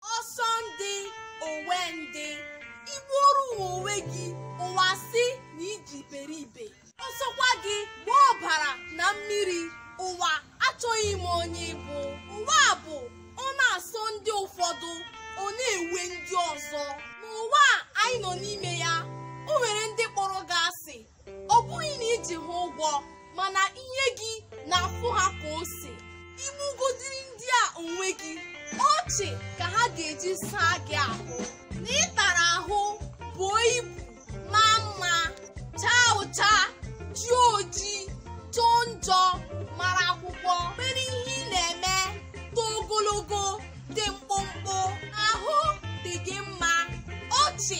ọsọ ndị owe ndị i gbuoro ụwa onwe gị ụwa sị na i ji iberibe ọ sọkwa gị gba ọbara na mmiri ụwa achọghị ịma onye ị bụ ụwa a bụ ọ na-asọ ndị ụfọdụ ọ na-ewe ndị ọzọ n'ụwa a anyị nọ n'ime ya o nwere ndị kpọrọ gị asị ọ bụghị na i ji ha ụgwọ mana ihe gị na-afụ ha ka ose i gbugodiri ndị a onwe gị ọchị ka ha ga-eji saa gị ahụ na ị tara ahụ buo ibu maa mma chaa ụcha jie oji jọọ njọ mara akwụkwọ nwere ihe ị na-eme too ogologo dị mkpụmkpụ ahụ dị gị mma ọchị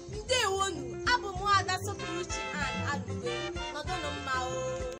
ndewonụ abụ m ada sọpụrụchi an alụgwe nọdụnụ mma o